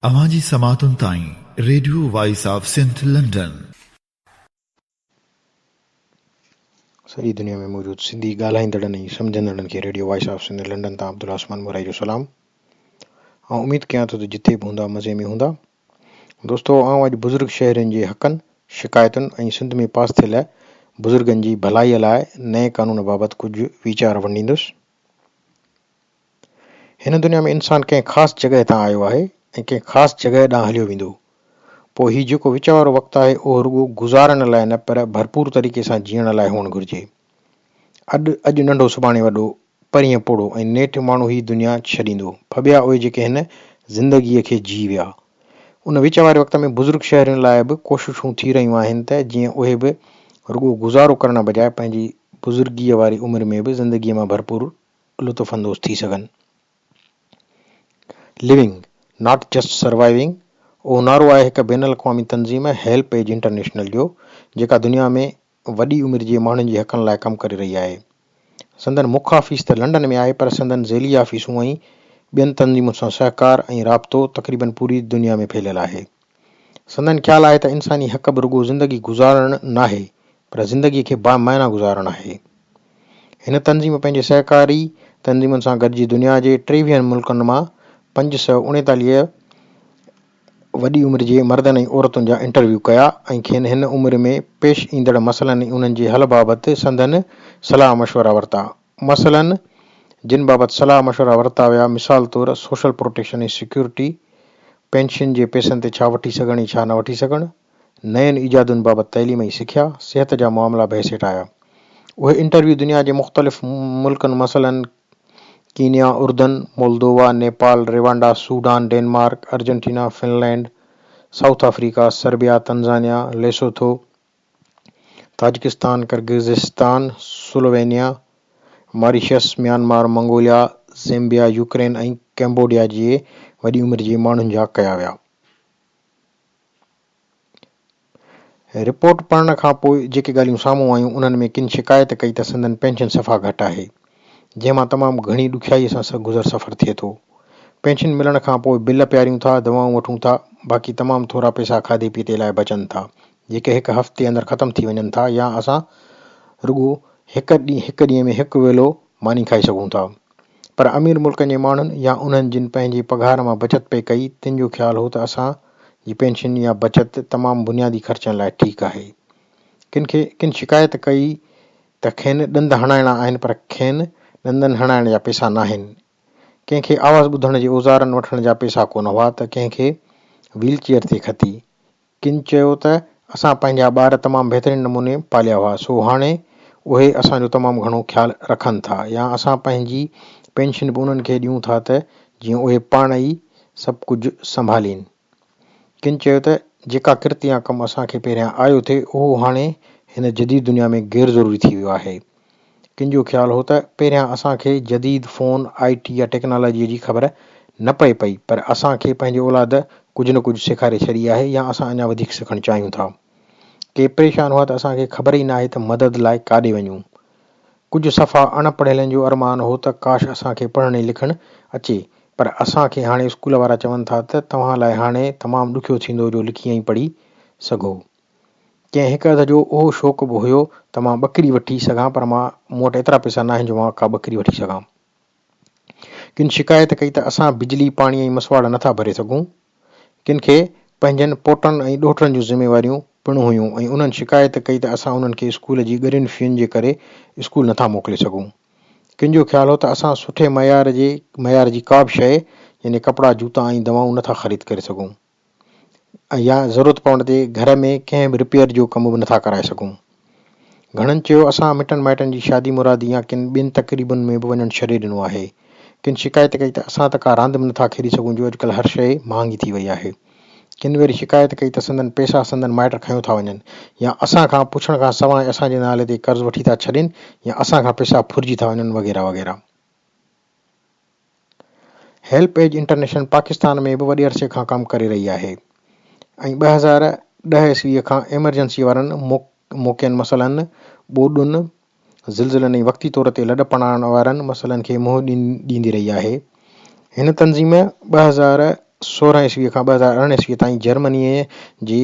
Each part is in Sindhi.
اوهان جي سماعتن تائين radio voice of Sindh London. سڄي دنيا ۾ موجود سنڌي ڳالهائيندڙن ۽ سمجهندڙن کي radio voice of Sindh London تان عبدالله عثمان مورائي جو سلام. آئون اميد ڪيان ٿو ته جتي به هوندا مزي ۾ هوندا. دوستو آئون اڄ بزرگ شهرين جي حقن، شڪايتن ۽ سنڌ ۾ پاس ٿيل بزرگن جي ڀلائي لاء نئين قانون بابت ڪجهه ويچار ونڊيندس. هن دنيا ۾ انسان ڪنهن خاص جڳهه تان آيو آهي ۽ ڪنهن خاص جڳهه ڏانهن هليو ويندو. پوء هي جيڪو وچ وارو وقت آهي اهو رڳو گذارڻ لاء نه پر ڀرپور طريقي سان جيئڻ لاء هئڻ گهرجي. اڏ اڄ ننڍو سڀاڻي وڏو، پرينء پوڙهو ۽ نيٺ ماڻهو هي دنيا ڇڏيندو. ڦٻيا اهي جيڪي هن زندگيء کي جي ويا. ان وچ واري وقت ۾ بزرگ شهرين لاء به ڪوششون ٿي رهيون آهن ته جيئن اهي به رڳو گذارو ڪرڻ بجاء پنهنجي بزرگيء واري عمر ۾ به زندگيء مان ڀرپور لطف اندوز ٿي سگهن. Living، Not Just Surviving اهو نعرو آهي هڪ بين الاقوامي تنظيم هيلپ ايج انٽرنيشنل جو، جيڪا دنيا ۾ وڏي عمر جي ماڻهن جي حقن لاء ڪم ڪري رهي آهي. سندن مک آفيس ته لنڊن ۾ آهي پر سندن ذيلي آفيسون ۽ ٻين تنظيمن سان سهڪار ۽ رابطو تقريبن پوري دنيا ۾ ڦهليل آهي. سندن خيال آهي ته انساني حق به رڳو زندگي گذارڻ ناهي پر زندگي کي با معنيٰ گذارڻ آهي. هن تنظيم پنهنجي سهڪاري تنظيمن سان گڏجي دنيا جي ٽيويهن ملڪن مان پنج سؤ اڻيتاليهه وڏي عمر جي مردن ۽ عورتن جا انٽرويو ڪيا ۽ کين هن عمر ۾ پيش ايندڙ مسئلن ۽ انهن جي حل بابت سندن صلاح مشورا ورتا. مسئلن جن بابت صلاح مشورا ورتا ويا مثال طور سوشل پروٽيڪشن ۽ سيڪيورٽي، پينشن جي پئسن تي ڇا وٺي سگهڻ ۽ ڇا نه وٺي سگهڻ، نين ايجادن بابت تعليم ۽ سکيا، صحت جا معاملا بحث هيٺ آيا. اهي انٽرويو دنيا جي مختلف ملڪن مسئلن، ڪينيا، اردن، Moldova, Nepal, Rwanda, Sudan, Denmark, Argentina, Finland, South Africa, Serbia, Tanzania, Lesotho, Tajikistan, Kyrgyzstan, Slovenia, Mauritius, Myanmar, Mongolia, Zambia, Ukraine ۽ Cambodia جي وڏي عمر جي ماڻهن جا ڪيا ويا. رپورٽ پڙهڻ کان پوء جيڪي ڳالهيون سامهون آيون انهن ۾ ڪن شڪايت ڪئي ته سندن پينشن صفا گهٽ آهي جنهن مان تمام گهڻي ڏکيائي سان گذر سفر ٿئي ٿو پينشن ملڻ کان پوء بل پياريون ٿا دوائون وٺون ٿا باقي تمام ٿورا پئسا کاڌي پيتي لاء بچن ٿا جيڪي هڪ هفتي اندر ختم ٿي وڃن ٿا يا اسان رڳو هڪ ڏينهن ۾ هڪ ويلو ماني کائي سگهون ٿا پر امير ملڪن جي ماڻهن يا انهن جن پنهنجي پگهار مان بچت پئي ڪئي، تن جو خيال هو ته اسان جي پينشن يا بچت تمام بنيادي خرچن لاء ٺيڪ آهي. ڪن کي ڪن شڪايت ڪئي ته کين ڏند هڻائڻا آهن پر کين ڏندن هڻائڻ جا پئسا ناهن. ڪنهن کي آواز ٻڌڻ جي اوزارن وٺڻ جا پئسا ڪونه هئا ته ڪنهن کي ويل چيئر تي کٿي. ڪن چيو ته اسان پنهنجا ٻار تمام بهترين نموني پاليا هئا سو هاڻي اهي اسان جو تمام گهڻو خيال رکن ٿا يا اسان پنهنجي پينشن به انهن کي ڏيون ٿا ته جيئن اهي پاڻ ئي سڀ ڪجهه سنڀالين. ڪن چيو ته جيڪا ڪرت يا ڪم اسان کي پهريان آيو ٿي اهو هاڻي هن جديد دنيا ۾ غير ضروري ٿي ويو آهي. ڪن جو خيال هو ته پهريان اسان کي جديد فون، آء ٽي يا ٽيڪنالاجيء جي خبر نه پئي پئي، پر اسان کي پنهنجي اولاد ڪجهه نه ڪجهه سيکاري ڇڏي آهي يا اسان اڃا وڌيڪ سکڻ چاهيون ٿا. ڪي پريشان هئا ته اسان کي خبر ئي ناهي ته مدد لاء ڪاڏي وڃون. ڪجهه صفا اڻ پڙهيلن جو ارمان هو ته ڪاش اسان کي پڙهڻ ۽ لکڻ اچي، پر اسان کي هاڻي اسڪول وارا چون ٿا ته توهان لاء هاڻي تمام ڏکيو ٿيندو جو لکي ۽ پڙهي سگهو. ڪنهن هڪ هنڌ جو اهو شوق به هيو ته مان ٻڪري وٺي سگهان پر مان مون وٽ ايترا پئسا ناهن جو مان ڪا ٻڪري وٺي سگهان. ڪن شڪايت ڪئي ته اسان بجلي، پاڻي ۽ مسواڙ نه ٿا ڀري سگهون. ڪن کي پنهنجن پوٽن ۽ ڏوهٽن جون ذميواريون پڻ هيون ۽ انهن شڪايت ڪئي ته اسان انهن کي اسڪول جي ڳرين فين جي ڪري اسڪول نه ٿا موڪلي سگهون. ڪن جو خيال هو ته اسان سٺي معيار جي معيار جي ڪا به شيء يعني ڪپڙا، جوتا ۽ دوائون نه ٿا خريد ڪري سگهون. يا ضرورت پوڻ تي گهر ۾ ڪنهن به رپيئر جو ڪم به نٿا ڪرائي سگهون. گهڻن چيو اسان مٽن مائٽن جي شادي مرادي يا ڪن ٻين تقريبن ۾ به وڃڻ ڇڏي ڏنو آهي. ڪن شڪايت ڪئي ته اسان ته ڪا راند به نٿا کيڏي سگهون جو اڄڪلهه هر شيء مهانگي ٿي وئي آهي. ڪن وري شڪايت ڪئي ته سندن پئسا سندن مائٽ کنيو ٿا وڃن يا اسان کان پڇڻ کان سواء اسان جي نالي تي قرض وٺي ٿا ڇڏين يا اسان کان پئسا ڦرجي ٿا وڃن وغيره وغيره. هيلپ ايج انٽرنيشنل پاڪستان ۾ به وڏي عرصي کان ڪم ڪري رهي آهي ۽ ٻه هزار ڏهه عيسوي کان ايمرجنسي وارن موقعن مثلن ٻوڏن، زلزلن ۽ وقتي طور تي لڏ پڙهڻ وارن مسئلن کي منهن ڏيندي رهي آهي. هن تنظيم ٻه هزار سورهن عيسوي کان ٻه هزار ارڙهن عيسوي تائين جرمنيء جي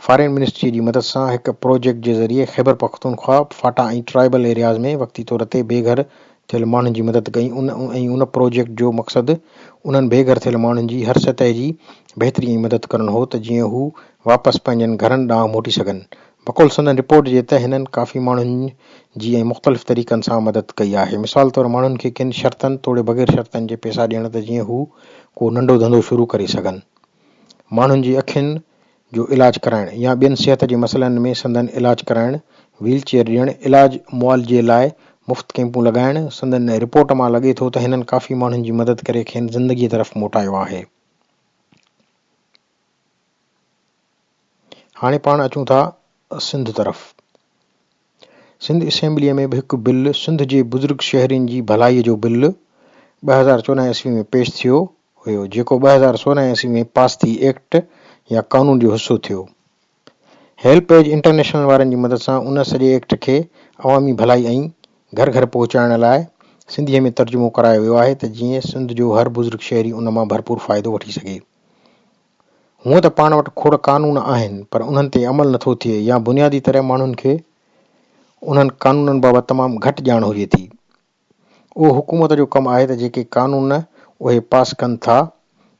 فارين منسٽريء جي مدد سان هڪ پروجيڪٽ جي ذريعي خيبرپختونخوا، فاٽا ۽ ٽرائبل ايرياز ۾ وقتي طور تي بي گهر ٿيل ماڻهن جي مدد ڪئي ۽ ان پروجيڪٽ جو مقصد انهن بي گهر ٿيل ماڻهن جي هر سطح جي بهتري ۽ مدد ڪرڻ هو ته جيئن هو واپس پنهنجن گهرن ڏانهن موٽي سگهن بقول سندن رپورٽ جي ته هنن ڪافي ماڻهن جي ۽ مختلف طريقن سان مدد ڪئي آهي، مثال طور ماڻهن کي ڪن شرطن توڙي بغير شرطن جي پئسا ڏيڻ ته جيئن هو ڪو ننڍو ڌنڌو شروع ڪري سگهن، ماڻهن جي اکين جو علاج ڪرائڻ يا ٻين صحت جي مسئلن ۾ سندن علاج ڪرائڻ، ويل چيئر ڏيڻ، علاج معالجي لاء مفت ڪئمپون لڳائڻ، سندن رپورٽ مان لڳي ٿو ته هنن ڪافي ماڻهن جي مدد ڪري کين زندگي طرف موٽايو آهي. هاڻي پاڻ اچون ٿا سنڌ طرف. سنڌ اسيمبليء ۾ به هڪ بل سنڌ جي بزرگ شهرين جي ڀلائيء جو بل ٻه هزار چوڏهن عيسوي ۾ پيش ٿيو هيو جيڪو ٻه هزار سورهن عيسوي ۾ پاس ٿي ايڪٽ يا قانون جو حصو ٿيو. هيلپ ايج انٽرنيشنل وارن جي مدد سان ان سڄي ايڪٽ کي عوامي ڀلائي ۽ گهر گهر پهچائڻ لاء سنڌيء ۾ ترجمو ڪرايو ويو آهي ته جيئن سنڌ جو هر بزرگ شهري ان مان ڀرپور فائدو وٺي سگهي. هونئن ته پاڻ وٽ کوڙ قانون آهن پر انهن تي عمل نه ٿو ٿئي يا بنيادي طرح ماڻهن کي انهن قانونن بابت تمام گهٽ ڄاڻ هجي ٿي. اهو حڪومت جو ڪم آهي ته جيڪي قانون اهي پاس ڪن ٿا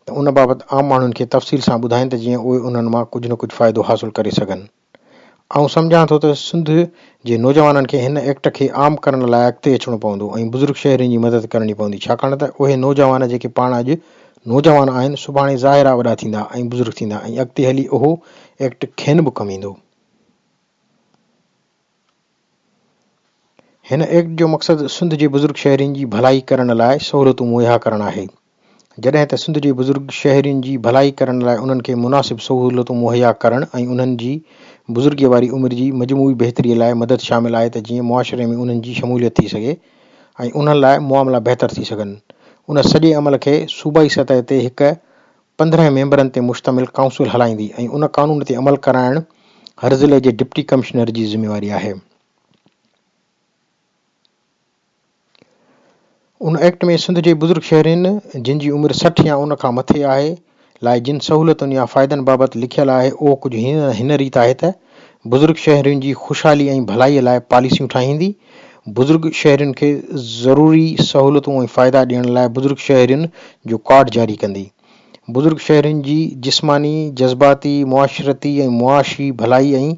ته ان بابت عام ماڻهن کي تفصيل سان ٻڌائين ته جيئن اهي انهن مان ڪجهه نه ڪجهه فائدو حاصل ڪري سگهن. آئون سمجهان ٿو ته سنڌ جي نوجوانن کي هن ايڪٽ کي عام ڪرڻ لاء اڳتي اچڻو پوندو ۽ بزرگ شهرين جي مدد ڪرڻي پوندي ڇاڪاڻ ته اهي نوجوان جيڪي پاڻ اڄ نوجوان آهن سڀاڻي ظاهر آ وڏا ٿيندا ۽ بزرگ ٿيندا ۽ اڳتي هلي اهو ايڪٽ کين به ڪم ايندو. هن ايڪٽ جو مقصد سنڌ جي بزرگ شهرين جي ڀلائي ڪرڻ لاء سهولتون مهيا ڪرڻ آهي، جڏهن ته سنڌ جي بزرگ شهرين جي ڀلائي ڪرڻ لاء انهن کي مناسب سهولتون مهيا ڪرڻ ۽ انهن جي بزرگيء واري عمر جي مجموعي بهتريء لاء مدد شامل آهي ته جيئن معاشري ۾ انهن جي شموليت ٿي سگهي ۽ انهن لاء معاملا بهتر ٿي سگهن. ان سڄي عمل کي صوبائي سطح تي هڪ پندرهن ميمبرن تي مشتمل ڪائونسل هلائيندي ۽ ان قانون تي عمل ڪرائڻ هرضلعي جي ڊپٽي ڪمشنر جي ذميواري آهي. ان ايڪٽ ۾ سنڌ جي بزرگ شهرين جن جي عمر سٺ يا ان کان مٿي آهي لاء جن سهولتن يا فائدن بابت لکيل آهي اهو ڪجهه هن ريت آهي ته. بزرگ شهرين جي خوشحالي ۽ ڀلائي لاء پاليسيون ٺاهيندي، بزرگ شهرين کي ضروري سهولتون ۽ فائدا ڏيڻ لاء بزرگ شهرين جو ڪارڊ جاري ڪندي، بزرگ شهرين جي جسماني، جذباتي، معاشرتي ۽ معاشي ڀلائي ۽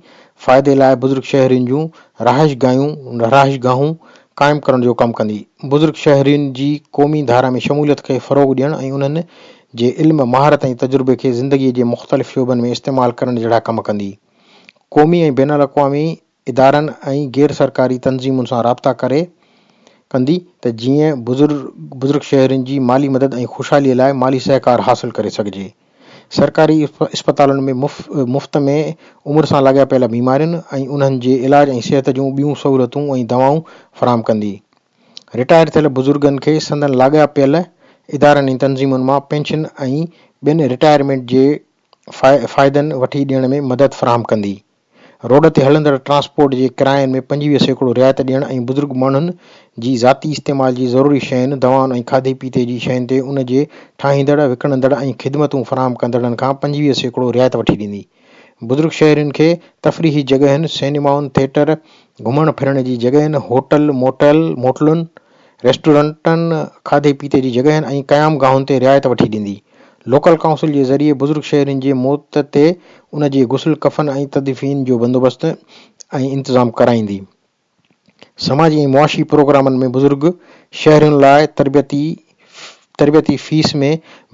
فائدي لاء بزرگ شهرين جون رهائش گاهيون، رهائش گاهون، قائم ڪرڻ جو ڪم ڪندي، بزرگ شهرين جي قومي ڌارا ۾ شموليت کي فروغ ڏيڻ ۽ انهن جي علم، مهارت ۽ تجربي کي زندگيء جي مختلف شعبن ۾ استعمال ڪرڻ جهڙا ڪم ڪندي. قومي ۽ بين الاقوامي ادارن ۽ غير سرڪاري تنظيمن سان رابطا ڪري ڪندي ته جيئن بزرگ شهرين جي مالي مدد ۽ خوشحاليء لاء مالي سهڪار حاصل ڪري سگهجي. سرڪاري اسپتالن ۾ مفت ۾ عمر سان لاڳاپيل بيمارين ۽ انهن جي علاج ۽ صحت جون ٻيون سهولتون ۽ دوائون فراهم ڪندي. رٽائر ٿيل بزرگن کي سندن لاڳاپيل ادارن ۽ تنظيمن مان پينشن ۽ ٻين رٽائرمينٽ جي فائدن وٺي ڏيڻ ۾ مدد فراهم ڪندي. روڊ تي هلندڙ ٽرانسپورٽ جي ڪراين ۾ پنجويهه سيڪڙو رعايت ڏيڻ ۽ بزرگ ماڻهن جي ذاتي استعمال جي ضروري شين، دوائن ۽ کاڌي پيتي جي شين تي ان جي ٺاهيندڙ، وڪڻندڙ ۽ خدمتون فراهم ڪندڙن کان پنجويهه سيڪڙو رعايت وٺي ڏيندي. بزرگ شهرين کي تفريحي جڳهين، سئنيمائن، ٿيٽر، گهمڻ ڦرڻ جي جڳهين، هوٽل، موٽل، موٽلن، ريسٽورنٽن، کاڌي پيتي جي جڳهين ۽ قيام گاهن تي رعايت وٺي ڏيندي. لوڪل ڪائونسل جي ذريعي بزرگ شهرين جي موت تي ان جي غسل، ڪفن ۽ تدفين جو بندوبست ۽ انتظام ڪرائيندي. سماجي ۽ معاشي پروگرامن ۾ بزرگ شهرين لاء تربيتي تربيتي فيس ۾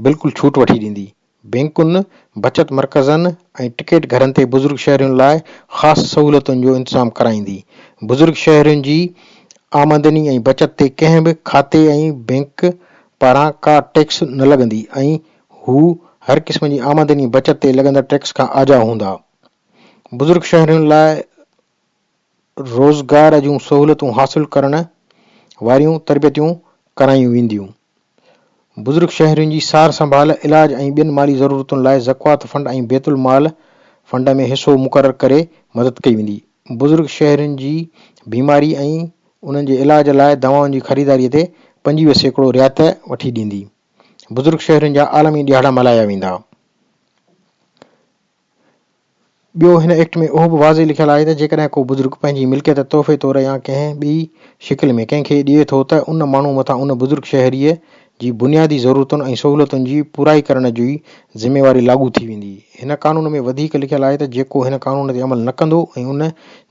بلڪل ڇوٽ وٺي ڏيندي، بئنڪن، بچت مرڪزن ۽ ٽڪيٽ گهرن تي بزرگ شهرين لاء خاص سهولتن جو انتظام ڪرائيندي، بزرگ شهرين جي آمدني ۽ بچت تي ڪنهن به کاتي ۽ بئنڪ پاران ڪا ٽيڪس نه لڳندي ۽ هو هر قسم جي آمدني ۽ بچت تي لڳندڙ ٽيڪس کان آجا هوندا، بزرگ شهرين لاء روزگار جون سهولتون حاصل ڪرڻ واريون تربيتون ڪرايون وينديون. بزرگ شهرين جي سار سنڀال، علاج ۽ ٻين مالي ضرورتن لاء زڪوات فنڊ ۽ بيت المال فنڊ ۾ حصو مقرر ڪري مدد ڪئي ويندي. بزرگ شهرين جي بيماري ۽ انهن جي علاج لاء دوائن جي خريداري تي پنجويهه سيڪڙو رعايت وٺي ڏيندي. بزرگ شهرين جا عالمي ڏهاڙا ملهايا ويندا. ٻيو هن ايڪٽ ۾ اهو به واضح لکيل آهي ته جيڪڏهن ڪو بزرگ پنهنجي ملڪيت تحفي طور يا ڪنهن ٻي شڪل ۾ ڪنهن کي ڏئي ٿو ته ان ماڻهو مٿان ان بزرگ شهريء جي بنيادي ضرورتن ۽ سهولتن جي پورائي ڪرڻ جي ذميواري لاڳو ٿي ويندي. هن قانون ۾ وڌيڪ لکيل آهي ته جيڪو هن قانون تي عمل نه ڪندو ۽ ان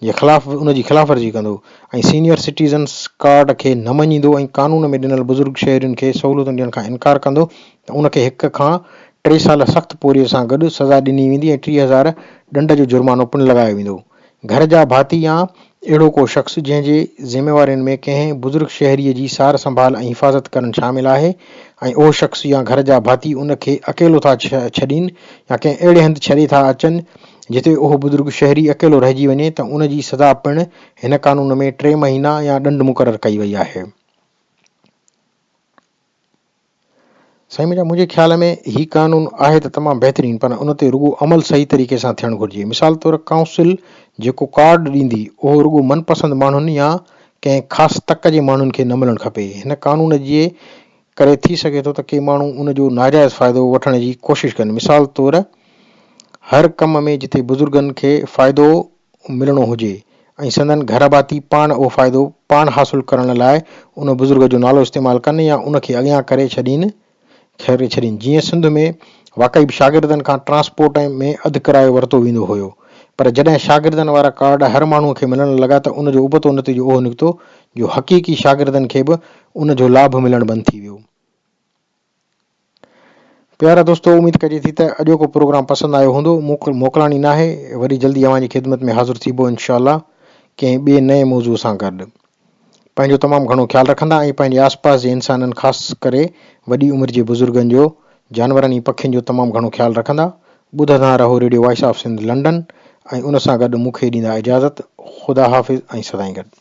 جي خلاف ان جي خلاف ورزي ڪندو ۽ سينيئر سٽيزنس ڪارڊ کي نه مڃيندو ۽ قانون ۾ ڏنل بزرگ شهرين کي سهولتون ڏيڻ کان انڪار ڪندو ته ان کي هڪ کان ٽي سال سخت پورهيي سان گڏ سزا ڏني ويندي ۽ ٽيهه هزار ڏنڊ جو جرمانو پڻ لڳايو ويندو. گهر جا ڀاتي يا اهڙو ڪو شخص جنهن جي ذميوارين ۾ ڪنهن بزرگ شهريء جي سار سنڀال ۽ حفاظت ڪرڻ شامل آهي ۽ اهو شخص يا گهر جا ڀاتي ان کي اڪيلو ٿا ڇڏين يا ڪنهن اهڙي هنڌ ڇڏي ٿا اچن جتي اهو بزرگ شهري اڪيلو رهجي وڃي ته ان جي سزا پڻ هن قانون ۾ ٽي مهينا يا ڏنڊ مقرر ڪئي وئي آهي. سائين ميرا منهنجي خيال ۾ هي قانون آهي ته تمام بهترين پر ان تي رڳو عمل صحيح طريقي سان ٿيڻ گهرجي مثال طور ڪائونسل جيڪو ڪارڊ ڏيندي اهو رڳو من پسند ماڻهن يا ڪنهن خاص تڪ جي ماڻهن کي نه ملڻ کپي هن قانون جي ڪري ٿي سگهي ٿو ته ڪي ماڻهو ان جو ناجائز فائدو وٺڻ جي ڪوشش ڪن مثال طور هر ڪم ۾ جتي بزرگن کي فائدو ملڻو هجي ۽ سندن گهر ڀاتي پاڻ اهو فائدو پاڻ حاصل ڪرڻ لاء ان بزرگ جو نالو استعمال ڪن يا ان کي اڳيان ڪري ڇڏين ڪري ڇڏين جيئن سنڌ ۾ واقعي به شاگردن کان ٽرانسپورٽ ۾ اڌ ڪرايو ورتو ويندو هيو پر جڏهن شاگردن وارا ڪارڊ هر ماڻهو کي ملڻ لڳا ته ان جو ابتو نتيجو اهو نڪتو جو حقيقي شاگردن کي به ان جو لاڀ ملڻ بند ٿي ويو. پيارا دوستو اميد ڪجي ٿي ته اڄوڪو پروگرام پسند آيو هوندو موڪلاڻي ناهي وري جلدي اوهان جي خدمت ۾ حاضر ٿيبو انشاء الله ڪنهن ٻئي نئين موضوع سان گڏ پنهنجو تمام گهڻو خيال رکندا ۽ پنهنجي آس پاس جي انسانن خاص ڪري وڏي عمر جي بزرگن جو جانورن ۽ پکين جو تمام گهڻو خيال رکندا ٻڌندا رهو radio voice of Sindh London ۽ ان سان گڏ مون کي ڏيندا اجازت خدا حافظ ۽ سدائين گڏ